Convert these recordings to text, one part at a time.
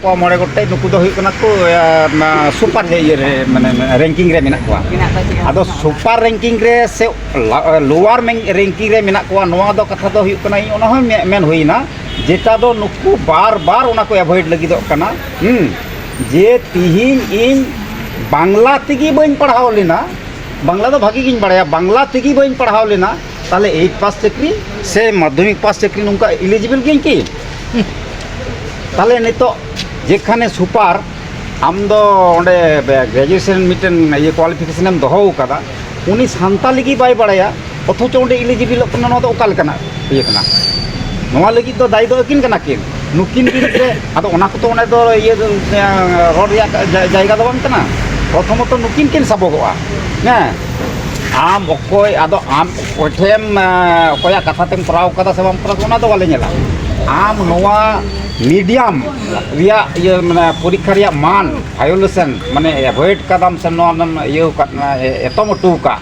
ᱠᱚ ᱢᱚᱬᱮ ᱜᱚᱴᱮᱡ ᱱᱩᱠᱩ ᱫᱚ ᱦᱩᱭᱩᱜ ᱠᱟᱱᱟ ᱠᱚ ᱥᱩᱯᱟᱨ ᱤᱭᱟᱹ ᱨᱮ ᱢᱟᱱᱮ ᱨᱮᱝᱠᱤᱝ ᱨᱮ ᱢᱮᱱᱟᱜ ᱠᱚᱣᱟ ᱟᱫᱚ ᱥᱩᱯᱟᱨ ᱨᱮᱝᱠᱤᱝ ᱨᱮ ᱥᱮ ᱞᱳᱣᱟᱨ ᱨᱮᱝᱠᱤᱝ ᱨᱮ ᱢᱮᱱᱟᱜ ᱠᱚᱣᱟ ᱱᱚᱣᱟ ᱫᱚ ᱠᱟᱛᱷᱟ ᱫᱚ ᱦᱩᱭᱩᱜ ᱠᱟᱱᱟ ᱚᱱᱟ ᱦᱚᱸ ᱢᱮᱱ ᱦᱩᱭᱱᱟ ᱡᱮᱴᱟ ᱫᱚ ᱱᱩᱠᱩ ᱵᱟᱨ ᱵᱟᱨ ᱚᱱᱟ ᱠᱚ ᱮᱵᱷᱚᱭᱮᱰ ᱞᱟᱹᱜᱤᱫᱚᱜ ᱠᱟᱱᱟ ᱡᱮ ᱛᱤᱦᱤᱧ ᱤᱧ ᱵᱟᱝᱞᱟ ᱛᱮᱜᱮ ᱵᱟᱹᱧ ᱯᱟᱲᱦᱟᱣ ᱞᱮᱱᱟ ᱵᱟᱝᱞᱟ ᱫᱚ ᱵᱷᱟᱹᱜᱤ ᱜᱤᱧ ᱵᱟᱲᱟᱭᱟ ᱵᱟᱝᱞᱟ ᱛᱮᱜᱮ ᱵᱟᱹᱧ ᱯᱟᱲᱦᱟᱣ ᱞᱮᱱᱟ ᱛᱟᱦᱚᱞᱮ ᱮᱭᱤᱴ ᱯᱟᱥ ᱪᱟᱹᱠᱨᱤ ᱥᱮ ᱢᱟᱫᱽᱫᱷᱚᱢᱤᱠ ᱯᱟᱥ ᱪᱟᱹᱠᱨᱤ ᱱᱚᱝᱠᱟ ᱤᱞᱤᱡᱤᱵᱤᱞ ᱜᱤᱭᱟᱹᱧ ᱠᱤ ᱛᱟᱦᱚᱞᱮ ᱱᱤᱛᱚᱜ ᱡᱮᱠᱷᱟᱱᱮ ᱥᱩᱯᱟᱨ ᱟᱢ ᱫᱚ ᱚᱸᱰᱮ ᱜᱨᱮᱡᱩᱭᱮᱥᱮᱱ ᱢᱤᱫᱴᱮᱱ ᱤᱭᱟᱹ ᱠᱚᱣᱟᱞᱤᱯᱷᱤᱠᱮᱥᱮᱱ ᱮᱢ ᱫᱚᱦᱚ ᱟᱠᱟᱫᱟ ᱩᱱᱤ ᱥᱟᱱᱛᱟᱲᱤ ᱜᱮ ᱵᱟᱭ ᱵᱟᱲᱟᱭᱟ ᱚᱛᱷᱚᱪᱚ ᱚᱸᱰᱮ ᱤᱞᱤᱡᱤᱵᱤᱞᱚᱜ ᱠᱟᱱᱟ ᱱᱚᱣᱟ ᱫᱚ ᱚᱠᱟ ᱞᱮᱠᱟᱱᱟᱜ ᱤᱭᱟᱹ ᱠᱟᱱᱟ ᱱᱚᱣᱟ ᱞᱟᱹᱜᱤᱫ ᱫᱚ ᱫᱟᱭᱤ ᱫᱚ ᱟᱹᱠᱤᱱ ᱠᱟᱱᱟ ᱠᱤᱱ ᱱᱩᱠᱤᱱ ᱵᱤᱨᱩᱫᱽ ᱨᱮ ᱟᱫᱚ ᱚᱱᱟ ᱠᱚᱫᱚ ᱚᱱᱟ ᱫᱚ ᱤᱭᱟᱹ ᱨᱚᱲ ᱨᱮᱭᱟᱜ ᱡᱟᱭᱜᱟ ᱫᱚ ᱵᱟᱝ ᱠᱟᱱᱟ ᱯᱨᱚᱛᱷᱚᱢᱚᱛᱚ ᱱᱩᱠᱤᱱ ᱠᱤᱱ ᱥᱟᱵᱚᱜᱚᱜᱼᱟ ᱦᱮᱸ ᱟᱢ ᱚᱠᱚᱭ ᱟᱫᱚ ᱟᱢ ᱚᱠᱚᱭ ᱴᱷᱮᱱ ᱚᱠᱚᱭᱟᱜ ᱠᱟᱛᱷᱟ ᱛᱮᱢ ᱠᱚᱨᱟᱣ ᱠᱟᱫᱟ ᱥᱮ ᱵᱟᱢ ᱠᱚᱨᱟᱣ ᱠᱟᱫᱟ ᱚᱱᱟ ᱫᱚ ᱵᱟᱞᱮ ᱧᱮᱞᱟ ᱟᱢ ᱱᱚᱣᱟ ᱢᱤᱰᱤᱭᱟᱢ ᱨᱮᱭᱟᱜ ᱤᱭᱟᱹ ᱢᱟᱱᱮ ᱯᱚᱨᱤᱠᱠᱷᱟ ᱨᱮᱭᱟᱜ ᱢᱟᱱ ᱵᱷᱟᱭᱳᱞᱮᱥᱮᱱ ᱢᱟᱱᱮ ᱮᱵᱷᱚᱭᱮᱰ ᱠᱟᱫᱟᱢ ᱥᱮ ᱱᱚᱣᱟ ᱫᱚᱢ ᱤᱭᱟᱹᱣ ᱠᱟᱫ ᱮᱛᱚᱢ ᱦᱚᱴᱚ ᱠᱟᱜ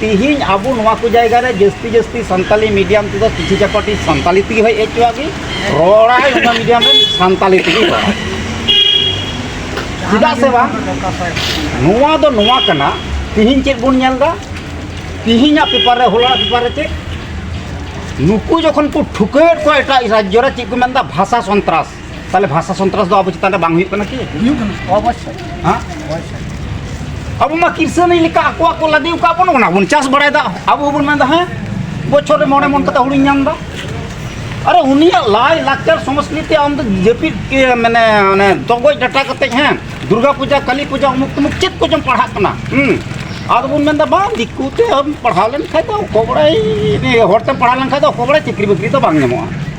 ᱛᱤᱦᱤᱧ ᱟᱵᱚ ᱱᱚᱣᱟ ᱠᱚ ᱡᱟᱭᱜᱟ ᱨᱮ ᱡᱟᱹᱥᱛᱤ ᱡᱟᱹᱥᱛᱤ ᱥᱟᱱᱛᱟᱞᱤ ᱢᱤᱰᱤᱭᱟᱢ ᱛᱮᱫᱚ ᱠᱤᱪᱷᱩ ᱪᱟᱠᱚᱴᱤ ᱥᱟᱱᱛᱟᱞᱤ ᱛᱮᱜᱮ ᱦᱮᱡ ᱦᱚᱪᱚᱣᱟᱜ ᱜᱮ ᱨᱚᱲᱟᱭ ᱚᱱᱟ ᱢᱤᱰᱤᱭᱟᱢ ᱨᱮ ᱥᱟᱱᱛᱟᱞᱤ ᱛᱮᱜᱮ ᱨᱚᱲᱟᱭ ᱪᱮᱫᱟᱜ ᱥᱮ ᱵᱟᱝ ᱱᱚᱣᱟ ᱫᱚ ᱱᱚᱣᱟ ᱠᱟᱱᱟ ᱛᱤᱦᱤᱧ ᱪᱮᱫ ᱵᱚᱱ ᱧᱮᱞ ᱮᱫᱟ ᱛᱤᱦᱤᱧᱟᱜ ᱯᱮᱯᱟᱨ ᱨᱮ ᱦᱚᱞᱟ ᱯᱮᱯᱟᱨ ᱨᱮ ᱪᱮᱫ ᱱᱩᱠᱩ ᱡᱚᱠᱷᱚᱱ ᱠᱚ ᱴᱷᱩᱠᱟᱹᱣᱮᱫ ᱠᱚᱣᱟ ᱮᱴᱟᱜ ᱨᱟᱡᱽᱡᱚ ᱨᱮ ᱪᱮᱫ ᱠᱚ ᱢᱮᱱᱫᱟ ᱵᱷᱟᱥᱟ ᱥᱚᱱᱛᱨᱟᱥ ᱛᱟᱦᱚᱞᱮ ᱵᱷᱟᱥᱟ ᱥᱚᱱᱛᱨᱟᱥ ᱫᱚ ᱟᱵᱚ ᱪᱮᱛᱟᱱ ᱨᱮ ᱵᱟᱝ ᱦᱩᱭᱩᱜ ᱠᱟᱱᱟ ᱠᱤ ᱦᱩᱭᱩᱜ ᱠᱟᱱᱟ ᱚᱵᱚᱥᱥᱳᱭ ᱦᱮᱸ ᱚᱵᱚᱥᱥᱳᱭ ᱟᱵᱚ ᱢᱟ ᱠᱤᱨᱥᱟᱹᱱᱤ ᱞᱮᱠᱟ ᱟᱠᱚᱣᱟᱜ ᱠᱚ ᱞᱟᱫᱮ ᱟᱠᱟᱫ ᱵᱚᱱ ᱚᱱᱟ ᱵᱚᱱ ᱪᱟᱥ ᱵᱟᱲᱟᱭᱮᱫᱟ ᱟᱵᱚ ᱦᱚᱸᱵᱚᱱ ᱢᱮᱱᱫᱟ ᱦᱮᱸ ᱵᱚᱪᱷᱚᱨ ᱨᱮ ᱢᱚᱬᱮ ᱢᱚᱱ ᱠᱟᱛᱮ ᱦᱩᱲᱩᱧ ᱧᱟᱢᱫᱟ ᱟᱨᱮ ᱩᱱᱤᱭᱟᱜ ᱞᱟᱭ ᱞᱟᱠᱪᱟᱨ ᱥᱚᱝᱥᱠᱨᱤᱛᱤ ᱟᱢ ᱫᱚ ᱡᱟᱹᱯᱤᱫ ᱢᱟᱱᱮ ᱚᱱᱮ ᱫᱚᱜᱚᱡ ᱰᱟᱴᱟ ᱠᱟᱛᱮ ᱦᱮᱸ ᱫᱩᱨᱜᱟ ᱯᱩᱡᱟ ᱠᱟᱞᱤ ᱯᱩᱡᱟ ᱚᱢᱩᱠ ᱛᱩᱢᱩᱠ ᱪᱮᱫ ᱠᱚᱪᱚᱢ ᱯᱟᱲᱦᱟᱜ ᱠᱟᱱᱟ ᱦᱩᱸ ᱟᱫᱚ ᱵᱚᱱ ᱢᱮᱱᱫᱟ ᱵᱟᱝ ᱫᱤᱠᱩ ᱛᱮ ᱯᱟᱲᱦᱟᱣ ᱞᱮᱱᱠᱷᱟᱡ ᱫᱚ ᱚᱠᱚᱭ ᱵᱟᱲᱟᱭ ᱦᱚᱲᱛᱮᱢ ᱯᱟᱲᱦᱟᱣ ᱞᱮᱱᱠᱷᱟᱡ ᱫᱚ ᱚᱠᱚᱭ ᱵᱟᱲᱟᱭ ᱪᱟᱹᱠᱨᱤ ᱵᱟᱹᱠᱨᱤ ᱫᱚ ᱵᱟᱝ ᱧᱟᱢᱚᱜᱼᱟ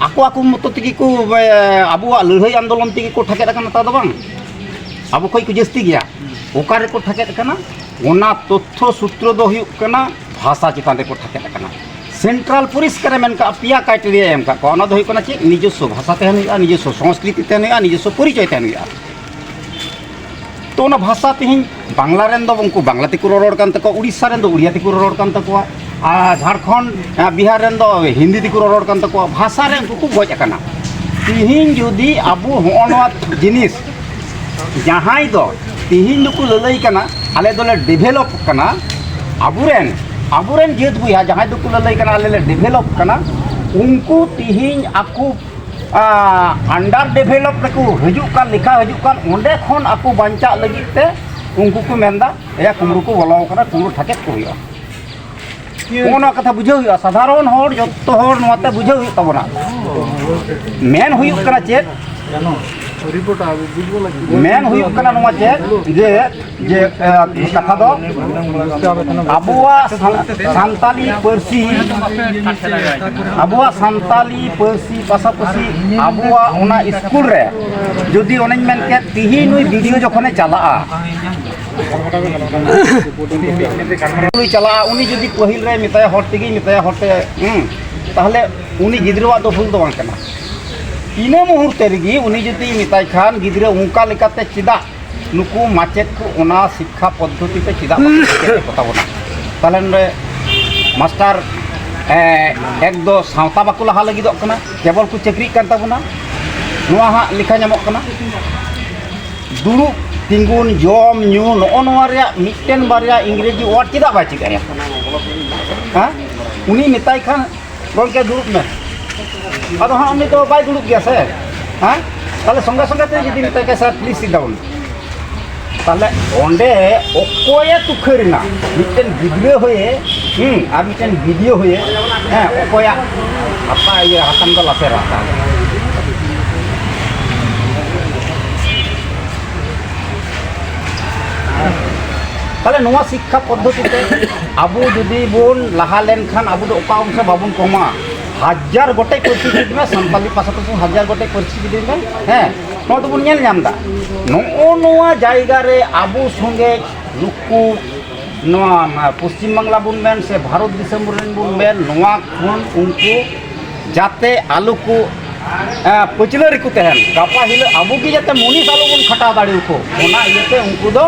ᱟᱠᱚ ᱟᱠᱚ ᱢᱚᱛᱚ ᱛᱮᱜᱮ ᱠᱚ ᱟᱵᱚᱣᱟᱜ ᱞᱟᱹᱲᱦᱟᱹᱭ ᱟᱱᱫᱳᱞᱚᱱ ᱛᱮᱜᱮ ᱠᱚ ᱴᱷᱟᱠᱮᱫ ᱟᱠᱟᱱᱟ ᱛᱟ ᱫᱚ ᱵᱟᱝ ᱟᱵᱚ ᱠᱷᱚᱱ ᱠᱚ ᱡᱟᱹᱥᱛᱤ ᱜᱮᱭᱟ ᱚᱠᱟ ᱨᱮᱠᱚ ᱴᱷᱟᱠᱮᱫ ᱟᱠᱟᱱᱟ ᱚᱱᱟ ᱛᱚᱛᱛᱷᱚ ᱥᱩᱛᱨᱚ ᱫᱚ ᱦᱩᱭᱩᱜ ᱠᱟᱱᱟ ᱵᱷᱟᱥᱟ ᱪᱮᱛᱟᱱ ᱨᱮᱠᱚ ᱴᱷᱟᱠᱮᱫ ᱟᱠᱟᱱᱟ ᱥᱮᱱᱴᱨᱟᱞ ᱯᱚᱨᱤᱥᱠᱟᱨᱮ ᱢᱮᱱ ᱠᱟᱜᱼᱟ ᱯᱮᱭᱟ ᱠᱟᱭᱴᱮᱨᱤᱭᱟᱭ ᱮᱢ ᱠᱟᱜ ᱠᱚᱣᱟ ᱚᱱᱟ ᱫᱚ ᱦᱩᱭᱩᱜ ᱠᱟᱱᱟ ᱪᱮᱫ ᱱᱤᱡᱚᱥᱥᱚ ᱵᱷᱟᱥᱟ ᱛᱟᱦᱮᱱ ᱦᱩᱭᱩᱜᱼᱟ ᱱᱤᱡᱚᱥᱥᱚ ᱥᱚᱝᱥᱠᱨᱤᱛᱤ ᱛᱟᱦᱮᱱ ᱦᱩᱭᱩᱜᱼᱟ ᱱᱤᱡᱚᱥᱥᱚ ᱯᱚᱨᱤᱪᱚᱭ ᱛᱟᱦᱮᱱ ᱦᱩᱭᱩᱜᱼᱟ ᱛᱚ ᱚᱱᱟ ᱵᱷᱟᱥᱟ ᱛᱮᱦᱮᱧ ᱵᱟᱝᱞᱟ ᱨᱮᱱ ᱫᱚ ᱩᱱᱠᱩ ᱵᱟᱝᱞᱟ ᱛᱮᱠᱚ ᱨᱚᱨᱚᱲ ᱠᱟᱱ ᱛᱟᱠᱚᱣᱟ ᱩᱲᱤᱥᱥᱟ ᱨᱮᱱ ᱫᱚ ᱩᱲᱤᱭᱟ ᱛᱮᱠᱚ ᱨᱚᱨᱚᱲ ᱠᱟᱱ ᱛᱟᱠᱚᱣᱟ ᱟᱨ ᱡᱷᱟᱲᱠᱷᱚᱸᱰ ᱵᱤᱦᱟᱨ ᱨᱮᱱ ᱫᱚ ᱦᱤᱱᱫᱤ ᱛᱮᱠᱚ ᱨᱚᱨᱚᱲ ᱠᱟᱱ ᱛᱟᱠᱚᱣᱟ ᱵᱷᱟᱥᱟ ᱨᱮ ᱩᱱᱠᱩ ᱠᱚ ᱜᱚᱡ ᱟᱠᱟᱱᱟ ᱛᱮᱦᱮᱧ ᱡᱩᱫᱤ ᱟᱵᱚ ᱦᱚᱸᱜᱼᱚ ᱱᱚᱣᱟ ᱡᱤᱱᱤᱥ ᱡᱟᱦᱟᱸᱭ ᱫᱚ ᱛᱮᱦᱮᱧ ᱫᱚᱠᱚ ᱞᱟᱹᱞᱟᱹᱭ ᱠᱟᱱᱟ ᱟᱞᱮ ᱫᱚᱞᱮ ᱰᱮᱵᱷᱮᱞᱚᱯ ᱠᱟᱱᱟ ᱟᱵᱚᱨᱮᱱ ᱟᱵᱚᱨᱮᱱ ᱡᱟᱹᱛ ᱵᱚᱭᱦᱟ ᱡᱟᱦᱟᱸᱭ ᱫᱚᱠᱚ ᱞᱟᱹᱞᱟᱹᱭ ᱠᱟᱱᱟ ᱟᱞᱮ ᱞᱮ ᱰᱮᱵᱷᱮᱞᱚᱯ ᱠᱟᱱᱟ ᱩᱱᱠᱩ ᱛᱮᱦᱮᱧ ᱟᱠᱚ ᱟᱱᱰᱟᱨ ᱰᱮᱵᱷᱮᱞᱚᱯ ᱨᱮᱠᱚ ᱦᱤᱡᱩᱜ ᱠᱟᱱ ᱞᱮᱠᱷᱟ ᱦᱤᱡᱩᱜ ᱠᱟᱱ ᱚᱸᱰᱮ ᱠᱷᱚᱱ ᱟᱠᱚ ᱵᱟᱧᱪᱟᱜ ᱞᱟᱹᱜᱤᱫ ᱛᱮ ᱩᱱᱠᱩ ᱠᱚ ᱢᱮᱱᱫᱟ ᱮᱭᱟ ᱠᱩᱢᱲᱩ ᱠᱚ ᱵᱚᱞᱚ ᱟᱠᱟᱱᱟ ᱠᱩᱢᱲᱩ ᱴᱷᱟᱠᱮᱫ ᱠᱚ ᱦᱩᱭᱩᱜᱼᱟ ᱚᱱᱟ ᱠᱟᱛᱷᱟ ᱵᱩᱡᱷᱟᱹᱣ ᱦᱩᱭᱩᱜᱼᱟ ᱥᱟᱫᱷᱟᱨᱚᱱ ᱦᱚᱲ ᱡᱚᱛᱚ ᱦᱚᱲ ᱱᱚᱣᱟᱛᱮ ᱵᱩᱡᱷᱟᱹᱣ ᱦᱩᱭᱩᱜ ᱛᱟᱵᱚᱱᱟ ᱢᱮᱱ ᱦᱩᱭᱩᱜ ᱠᱟᱱᱟ ᱪᱮᱫ ᱢᱮᱱ ᱦᱩᱭᱩᱜ ᱠᱟᱱᱟ ᱱᱚᱣᱟ ᱪᱮᱫ ᱡᱮ ᱡᱮ ᱠᱟᱛᱷᱟ ᱫᱚ ᱟᱵᱚᱣᱟᱜ ᱥᱟᱱᱛᱟᱞᱤ ᱯᱟᱹᱨᱥᱤ ᱟᱵᱚᱣᱟᱜ ᱥᱟᱱᱛᱟᱞᱤ ᱯᱟᱹᱨᱥᱤ ᱯᱟᱥᱟᱯᱟᱥᱤ ᱟᱵᱚᱣᱟᱜ ᱚᱱᱟ ᱥᱠᱩᱞ ᱨᱮ ᱡᱩᱫᱤ ᱚᱱᱮᱧ ᱢᱮᱱ ᱠᱮᱫ ᱛᱤᱦᱤᱧ ᱱᱩᱭ ᱵᱤᱰᱤᱭᱳ ᱡᱚᱠᱷᱚᱱᱮ ᱪᱟᱞᱟᱜᱼᱟ ᱩᱱᱤ ᱪᱟᱞᱟᱜᱼᱟ ᱩᱱᱤ ᱡᱩᱫᱤ ᱯᱟᱹᱦᱤᱞ ᱨᱮ ᱢᱮᱛᱟᱭᱟ ᱦᱚᱲ ᱛᱮᱜᱮ ᱢᱮᱛᱟᱭᱟ ᱦᱚᱲ ᱛᱮ ᱛᱟᱦᱚᱞᱮ ᱩᱱᱤ ᱜᱤᱫᱽᱨᱟᱹᱣᱟᱜ ᱫᱚ ᱵᱷᱩᱞ ᱫᱚ ᱵᱟᱝ ᱠᱟᱱᱟ ᱤᱱᱟᱹ ᱢᱩᱦᱩᱨᱛᱮ ᱨᱮᱜᱮ ᱩᱱᱤ ᱡᱩᱫᱤ ᱢᱮᱛᱟᱭ ᱠᱷᱟᱱ ᱜᱤᱫᱽᱨᱟᱹ ᱚᱱᱠᱟ ᱞᱮᱠᱟᱛᱮ ᱪᱮᱫᱟᱜ ᱱᱩᱠᱩ ᱢᱟᱪᱮᱫ ᱠᱚ ᱚᱱᱟ ᱥᱤᱠᱠᱷᱟ ᱯᱚᱫᱽᱫᱷᱚᱛᱤ ᱛᱮ ᱪᱮᱫᱟᱜ ᱵᱟᱠᱚ ᱥᱮᱪᱮᱫ ᱠᱚᱛᱟ ᱵᱚᱱᱟ ᱛᱟᱦᱚᱞᱮ ᱱᱚᱰᱮ ᱢᱟᱥᱴᱟᱨ ᱮᱠ ᱫᱚ ᱥᱟᱶᱛᱟ ᱵᱟᱠᱚ ᱞᱟᱦᱟ ᱞᱟᱹᱜᱤᱫᱚᱜ ᱠᱟᱱᱟ ᱠᱮᱵᱚᱞ ᱠᱚ ᱪᱟᱹᱠᱨᱤᱜ ᱠᱟᱱ ᱛᱟᱵᱚᱱᱟ ᱱᱚᱣᱟ ᱦᱟᱸᱜ ᱞᱮᱠᱷᱟ ᱧᱟᱢᱚᱜ ᱠᱟᱱᱟ ᱫᱩᱲᱩᱵ ᱛᱤᱸᱜᱩᱱ ᱡᱚᱢ ᱧᱩ ᱱᱚᱜᱼᱚ ᱱᱚᱣᱟ ᱨᱮᱭᱟᱜ ᱢᱤᱫᱴᱮᱱ ᱵᱟᱨᱭᱟ ᱤᱝᱨᱮᱡᱤ ᱚᱣᱟᱨᱰ ᱪᱮᱫᱟᱜ ᱵᱟᱭ ᱪᱮᱫ ᱟᱭᱟ ᱦᱮᱸ ᱩᱱᱤ ᱢᱮᱛᱟᱭ ᱠᱷᱟᱱ ᱜᱚᱢᱠᱮ ᱫᱩᱲᱩᱵ ᱢᱮ ᱟᱫᱚ ᱦᱟᱸᱜ ᱩᱱᱤ ᱫᱚ ᱵᱟᱭ ᱫᱩᱲᱩᱵ ᱜᱮᱭᱟ ᱥᱮ ᱦᱮᱸ ᱛᱟᱦᱚᱞᱮ ᱥᱚᱸᱜᱮ ᱥᱚᱸᱜᱮ ᱛᱮ ᱡᱩᱫᱤ ᱢᱮᱛᱟᱭ ᱠᱷᱟᱱ ᱥᱟᱨ ᱯᱞᱤᱡᱽ ᱥᱤᱴ ᱰᱟᱣᱩᱱ ᱛᱟᱦᱚᱞᱮ ᱚᱸᱰᱮ ᱚᱠᱚᱭᱮ ᱛᱩᱠᱷᱟᱹᱨᱮᱱᱟ ᱢᱤᱫᱴᱮᱱ ᱜᱤᱫᱽᱨᱟᱹ ᱦᱩᱭᱮ ᱦᱮᱸ ᱟᱨ ᱢᱤᱫᱴᱮᱱ ᱵᱤᱰᱤᱭᱳ ᱦᱩᱭᱮ ᱦᱮᱸ ᱚᱠᱚᱭᱟᱜ ᱦᱟᱛᱟ ᱤᱭᱟᱹ ᱦᱟᱛᱟᱝ ᱫᱚ ᱞᱟᱥᱮᱨᱟ ᱛᱟᱦᱚᱞᱮ ᱛᱟᱦᱚᱞᱮ ᱱᱚᱣᱟ ᱥᱤᱠᱠᱷᱟ ᱯᱚᱫᱽᱫᱷᱚᱛᱤ ᱛᱮ ᱟᱵᱚ ᱡᱩᱫᱤ ᱵᱚᱱ ᱞᱟᱦᱟ ᱞᱮᱱᱠᱷᱟᱱ ᱟᱵᱚ ᱫᱚ ᱚᱠᱟ ᱚᱝᱥᱮ ᱵᱟᱵᱚᱱ ᱠᱚᱢᱟ ᱦᱟᱡᱟᱨ ᱜᱚᱴᱮᱡ ᱯᱟᱹᱨᱥᱤ ᱪᱮᱫ ᱢᱮ ᱥᱟᱱᱛᱟᱞᱤ ᱯᱟᱥᱟ ᱯᱟᱥᱤ ᱦᱟᱡᱟᱨ ᱜᱚᱴᱮᱡ ᱯᱟᱹᱨᱥᱤ ᱪᱮᱫ ᱢᱮ ᱦᱮᱸ ᱱᱚᱣᱟ ᱫᱚᱵᱚᱱ ᱧᱮᱞ ᱧᱟᱢ ᱮᱫᱟ ᱱᱚᱜᱼᱚ ᱱᱚᱣᱟ ᱡᱟᱭᱜᱟ ᱨᱮ ᱟᱵᱚ ᱥᱚᱸᱜᱮ ᱱᱩᱠᱩ ᱱᱚᱣᱟ ᱯᱚᱥᱪᱤᱢ ᱵᱟᱝᱞᱟ ᱵᱚᱱ ᱢᱮᱱ ᱥᱮ ᱵᱷᱟᱨᱚᱛ ᱫᱤᱥᱚᱢ ᱨᱮᱱ ᱵᱚᱱ ᱢᱮᱱ ᱱᱚᱣᱟ ᱠᱷᱚᱱ ᱩᱱᱠᱩ ᱡᱟᱛᱮ ᱟᱞᱚ ᱠᱚ ᱯᱟᱹᱪᱞᱟᱹ ᱨᱮᱠᱚ ᱛᱟᱦᱮᱱ ᱜᱟᱯᱟ ᱦᱤᱞᱳᱜ ᱟᱵᱚ ᱜᱮ ᱡᱟᱛᱮ ᱢᱩᱱᱤᱥ ᱟᱞᱚ ᱵᱚᱱ ᱠᱷᱟᱴᱟᱣ ᱫᱟᱲᱮᱭᱟᱠᱚ ᱚᱱᱟ ᱤᱭᱟᱹᱛᱮ ᱩᱱᱠᱩ ᱫᱚ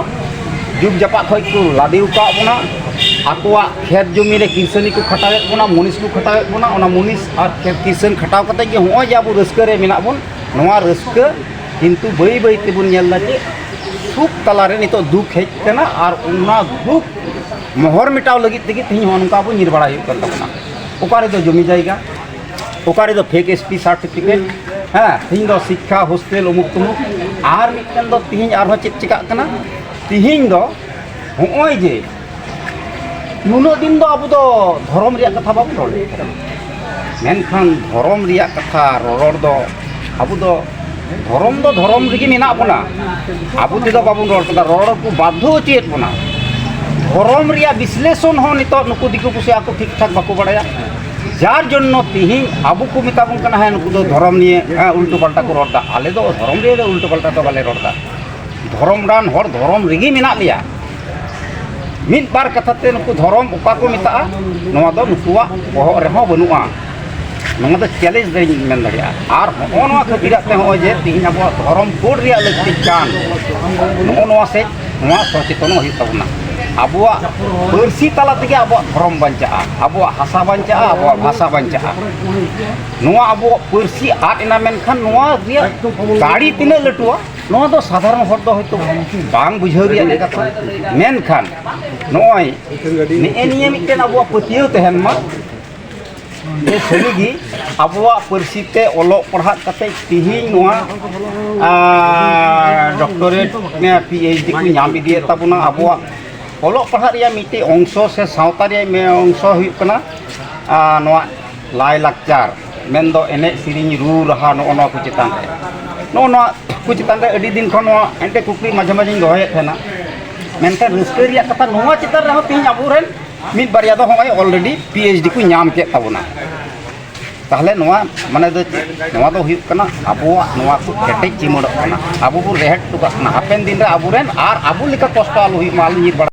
ᱡᱩᱜᱽ ᱡᱟᱯᱟᱜ ᱠᱷᱚᱱ ᱠᱚ ᱞᱟᱫᱮ ᱟᱠᱟᱫ ᱵᱚᱱᱟ ᱟᱠᱚᱣᱟᱜ ᱠᱷᱮᱛ ᱡᱚᱢᱤ ᱨᱮ ᱠᱤᱥᱟᱹᱱᱤ ᱠᱚ ᱠᱷᱟᱴᱟᱣᱮᱫ ᱵᱚᱱᱟ ᱢᱩᱱᱤᱥ ᱠᱚ ᱠᱷᱟᱴᱟᱣᱮᱫ ᱵᱚᱱᱟ ᱚᱱᱟ ᱢᱩᱱᱤᱥ ᱟᱨ ᱠᱷᱮᱛ ᱠᱤᱥᱟᱹᱱ ᱠᱷᱟᱴᱟᱣ ᱠᱟᱛᱮ ᱜᱮ ᱱᱚᱜᱼᱚᱭ ᱡᱮ ᱟᱵᱚ ᱨᱟᱹᱥᱠᱟᱹ ᱨᱮ ᱢᱮᱱᱟᱜ ᱵᱚᱱ ᱱᱚᱣᱟ ᱨᱟᱹᱥᱠᱟᱹ ᱠᱤᱱᱛᱩ ᱵᱟᱹᱭ ᱵᱟᱹᱭ ᱛᱮᱵᱚᱱ ᱧᱮᱞ ᱮᱫᱟ ᱡᱮ ᱥᱩᱠ ᱛᱟᱞᱟᱨᱮ ᱱᱤᱛᱚᱜ ᱫᱩᱠ ᱦᱮᱡ ᱟᱠᱟᱱᱟ ᱟᱨ ᱚᱱᱟ ᱫᱩᱠ ᱢᱚᱦᱚᱨ ᱢᱮᱴᱟᱣ ᱞᱟᱹᱜᱤᱫ ᱛᱮᱜᱮ ᱛᱮᱦᱮᱧ ᱱᱚᱜᱼᱚ ᱱᱚᱝᱠᱟ ᱟᱵᱚ ᱧᱤᱨ ᱵᱟᱲᱟᱭ ᱦᱩᱭᱩᱜ ᱠᱟᱱ ᱛᱟᱵᱚᱱᱟ ᱚᱠᱟᱨᱮ ᱫᱚ ᱡᱚᱢᱤ ᱡᱟᱭᱜᱟ ᱚᱠᱟᱨᱮ ᱫᱚ ᱯᱷᱮᱠ ᱮᱥᱯᱤ ᱥᱟᱨᱴᱤᱯᱷᱤᱠᱮᱴ ᱦᱮᱸ ᱛᱤᱦᱤᱧ ᱫᱚ ᱥᱤᱠᱠᱷᱟ ᱦᱳᱥᱴᱮᱞ ᱩᱢᱩᱠ ᱛᱩᱢᱩᱠ ᱟᱨ ᱢᱤᱫᱴᱮᱱ ᱫᱚ ᱛᱤᱦᱤᱧ ᱟᱨᱦᱚᱸ ᱪᱮᱫ ᱪᱤᱠᱟᱜ ᱠᱟᱱᱟ ᱛᱤᱦᱤᱧ ᱫᱚ ᱦᱚᱸᱜᱼᱚᱭ ᱡᱮ ᱱᱩᱱᱟᱹᱜ ᱫᱤᱱ ᱫᱚ ᱟᱵᱚ ᱫᱚ ᱫᱷᱚᱨᱚᱢ ᱨᱮᱭᱟᱜ ᱠᱟᱛᱷᱟ ᱵᱟᱵᱚᱱ ᱨᱚᱲ ᱞᱮᱫ ᱛᱟᱦᱮᱸ ᱢᱮᱱᱠᱷᱟᱱ ᱫᱷᱚᱨᱚᱢ ᱨᱮᱭᱟᱜ ᱠᱟᱛᱷᱟ ᱨᱚᱨᱚᱲ ᱫᱚ ᱟᱵᱚ ᱫᱚ ᱫᱷᱚᱨᱚᱢ ᱫᱚ ᱫᱷᱚᱨᱚᱢ ᱨᱮᱜᱮ ᱢᱮᱱᱟᱜ ᱵᱚᱱᱟ ᱟᱵᱚ ᱛᱮᱫᱚ ᱵᱟᱵᱚᱱ ᱨᱚᱲ ᱠᱟᱫᱟ ᱨᱚᱲ ᱠᱚ ᱵᱟᱫᱷᱚ ᱦᱚᱪᱚᱭᱮᱫ ᱵᱚᱱᱟ ᱫᱷᱚᱨᱚᱢ ᱨᱮᱭᱟᱜ ᱵᱤᱥᱞᱮᱥᱚᱱ ᱦᱚᱸ ᱱᱤᱛᱚᱜ ᱱᱩᱠᱩ ᱫᱤᱠᱩ ᱯᱩᱥᱤ ᱟᱠᱚ ᱴᱷᱤᱠ ᱴᱷᱟᱠ ᱵᱟᱠᱚ ᱵᱟᱲᱟᱭᱟ ᱡᱟᱨ ᱡᱚᱱᱱᱚ ᱛᱤᱦᱤᱧ ᱟᱵᱚ ᱠᱚ ᱢᱮᱛᱟ ᱵᱚᱱ ᱠᱟᱱᱟ ᱦᱮᱸ ᱱᱩᱠᱩ ᱫᱚ ᱫᱷᱚᱨᱚᱢ ᱱᱤᱭᱮ ᱩᱞᱴᱩ ᱯᱟᱞᱴᱟ ᱠᱚ ᱨᱚᱲᱫᱟ ᱟᱞᱮ ᱫᱚ ᱫᱷᱚᱨᱚᱢ ᱱᱤᱭᱮ ᱫᱚ ᱩᱞᱴᱩ ᱯᱟᱞᱴᱟ ᱫᱚ ᱵᱟᱞᱮ ᱨᱚᱲᱫᱟ ᱫᱷᱚᱨᱚᱢ ᱨᱟᱱ ᱦᱚᱲ ᱫᱷᱚᱨᱚᱢ ᱨᱮᱜᱮ ᱢᱮᱱᱟᱜ ᱞᱮᱭᱟ ᱢᱤᱫ ᱵᱟᱨ ᱠᱟᱛᱷᱟ ᱛᱮ ᱱᱩᱠᱩ ᱫᱷᱚᱨᱚᱢ ᱚᱠᱟ ᱠᱚ ᱢᱮᱛᱟᱜᱼᱟ ᱱᱚᱣᱟ ᱫᱚ ᱱᱩᱠᱩᱣᱟᱜ ᱵᱚᱦᱚᱜ ᱨᱮᱦᱚᱸ ᱵᱟᱹᱱᱩᱜᱼᱟ ᱱᱚᱣᱟ ᱫᱚ ᱪᱮᱞᱮᱧᱡᱽ ᱫᱚᱧ ᱢᱮᱱ ᱫᱟᱲᱮᱭᱟᱜᱼᱟ ᱟᱨ ᱱᱚᱜᱼᱚ ᱱᱚᱣᱟ ᱠᱷᱟᱹᱛᱤᱨᱟᱜ ᱛᱮ ᱱᱚᱜᱼᱚᱭ ᱡᱮ ᱛᱮᱦᱮᱧ ᱟᱵᱚᱣᱟᱜ ᱫᱷᱚᱨᱚᱢ ᱠᱳᱰ ᱨᱮᱭᱟᱜ ᱞᱟᱹᱠᱛᱤᱜ ᱠᱟᱱ ᱱᱚᱜᱼᱚ ᱱᱚᱣᱟ ᱥᱮᱫ ᱱᱚᱣᱟ ᱥᱚᱪᱮᱛᱚᱱᱚᱜ ᱦᱩᱭᱩᱜ ᱛᱟᱵᱚᱱᱟ ᱟᱵᱚᱣᱟᱜ ᱯᱟᱹᱨᱥᱤ ᱛᱟᱞᱟ ᱛᱮᱜᱮ ᱟᱵᱚᱣᱟᱜ ᱫᱷᱚᱨᱚᱢ ᱵᱟᱧᱪᱟᱜᱼᱟ ᱟᱵᱚᱣᱟᱜ ᱦᱟᱥᱟ ᱵᱟᱧᱪᱟᱜᱼᱟ ᱟᱵᱚᱣᱟᱜ ᱵᱷᱟᱥᱟ ᱵᱟᱧᱪᱟᱜᱼᱟ ᱱᱚᱣᱟ ᱟᱵᱚᱣᱟᱜ ᱯᱟᱹᱨᱥᱤ ᱟᱫ ᱮᱱᱟ ᱢᱮᱱᱠᱷᱟᱱ ᱱᱚᱣᱟ ᱨᱮᱭᱟᱜ ᱫᱟᱲᱮ ᱛᱤᱱᱟᱹᱜ ᱞᱟᱹᱴᱩᱣᱟ ᱱᱚᱣᱟ ᱫᱚ ᱥᱟᱫᱷᱟᱨᱚᱱ ᱦᱚᱲ ᱫᱚ ᱦᱚᱭᱛᱳ ᱵᱟᱝ ᱵᱩᱡᱷᱟᱹᱣ ᱨᱮᱭᱟᱜ ᱠᱟᱛᱷᱟ ᱢᱮᱱᱠᱷᱟᱱ ᱱᱚᱜᱼᱚᱭ ᱱᱮᱜᱼᱮ ᱱᱤᱭᱟᱹ ᱢᱤᱫᱴᱮᱱ ᱟᱵᱚᱣᱟᱜ ᱯᱟᱹᱛᱭᱟᱹᱣ ᱛᱟᱦᱮᱱ ᱢᱟ ᱡᱮ ᱥᱟᱹᱨᱤᱜᱮ ᱟᱵᱚᱣᱟᱜ ᱯᱟᱹᱨᱥᱤ ᱛᱮ ᱚᱞᱚᱜ ᱯᱟᱲᱦᱟᱜ ᱠᱟᱛᱮ ᱛᱮᱦᱮᱧ ᱱᱚᱣᱟ ᱰᱚᱠᱴᱚᱨᱮᱴ ᱯᱤ ᱮᱭᱤᱪ ᱰᱤ ᱠᱚ ᱧᱟᱢ ᱤᱫᱤᱭᱮᱫ ᱛᱟᱵᱚᱱᱟ ᱟᱵᱚᱣᱟᱜ ᱚᱞᱚᱜ ᱯᱟᱲᱦᱟᱜ ᱨᱮᱭᱟᱜ ᱢᱤᱫᱴᱮᱱ ᱚᱝᱥᱚ ᱥᱮ ᱥᱟᱶᱛᱟ ᱨᱮᱭᱟᱜ ᱚᱝᱥᱚ ᱦᱩᱭᱩᱜ ᱠᱟᱱᱟ ᱱᱚᱣᱟ ᱞᱟᱭᱼᱞᱟᱠᱪᱟᱨ ᱢᱮᱱᱫᱚ ᱮᱱᱮᱡ ᱥᱮᱨᱮᱧ ᱨᱩ ᱨᱟᱦᱟ ᱱᱚᱜᱼᱚ ᱱᱚᱣᱟ ᱠᱚ ᱪᱮᱛᱟᱱ ᱨᱮ ᱱᱚᱜᱼᱚ ᱱᱚᱣᱟ ᱠᱚ ᱪᱮᱛᱟᱱ ᱨᱮ ᱟᱹᱰᱤ ᱫᱤᱱ ᱠᱷᱚᱱ ᱱᱚᱣᱟ ᱢᱤᱫᱴᱮᱱ ᱠᱩᱠᱞᱤ ᱢᱟᱡᱷᱮ ᱢᱟᱡᱷᱮᱧ ᱫᱚᱦᱚᱭᱮᱫ ᱛᱟᱦᱮᱱᱟ ᱢᱮᱱᱠᱷᱟᱱ ᱨᱟᱹᱥᱠᱟᱹ ᱨᱮᱭᱟᱜ ᱠᱟᱛᱷᱟ ᱱᱚᱣᱟ ᱪᱮᱛᱟᱱ ᱨᱮᱦᱚᱸ ᱛᱮᱦᱮᱧ ᱟᱵᱚ ᱨᱮᱱ ᱢᱤᱫ ᱵᱟᱨᱭᱟ ᱫᱚ ᱦᱚᱸᱜᱼᱚᱭ ᱚᱞᱨᱮᱰᱤ ᱯᱤ ᱮᱭᱤᱪ ᱰᱤ ᱠᱚ ᱧᱟᱢ ᱠᱮᱫ ᱛᱟᱵᱚᱱᱟ ᱛᱟᱦᱚᱞᱮ ᱱᱚᱣᱟ ᱢᱟᱱᱮ ᱫᱚ ᱪᱮᱫ ᱱᱚᱣᱟ ᱫᱚ ᱦᱩᱭᱩᱜ ᱠᱟᱱᱟ ᱟᱵᱚᱣᱟᱜ ᱱᱚᱣᱟ ᱠᱚ ᱠᱮᱴᱮᱡ ᱪᱤᱢᱟᱹᱲᱚᱜ ᱠᱟᱱᱟ ᱟᱵᱚ ᱵᱚᱱ ᱨᱮᱦᱮᱫ ᱦᱚᱴᱚ ᱠᱟᱜ ᱠᱟᱱᱟ ᱦᱟᱯᱮᱱ ᱫᱤᱱ ᱨᱮ ᱟᱵᱚ ᱨᱮᱱ ᱟᱨ ᱟᱵᱚ ᱞᱮᱠᱟ ᱠᱚᱥᱴᱚ ᱟᱞᱚ ᱦᱩᱭᱩᱜ ᱢᱟ ᱟᱞᱚ ᱧᱤᱨ ᱵᱟᱲᱟ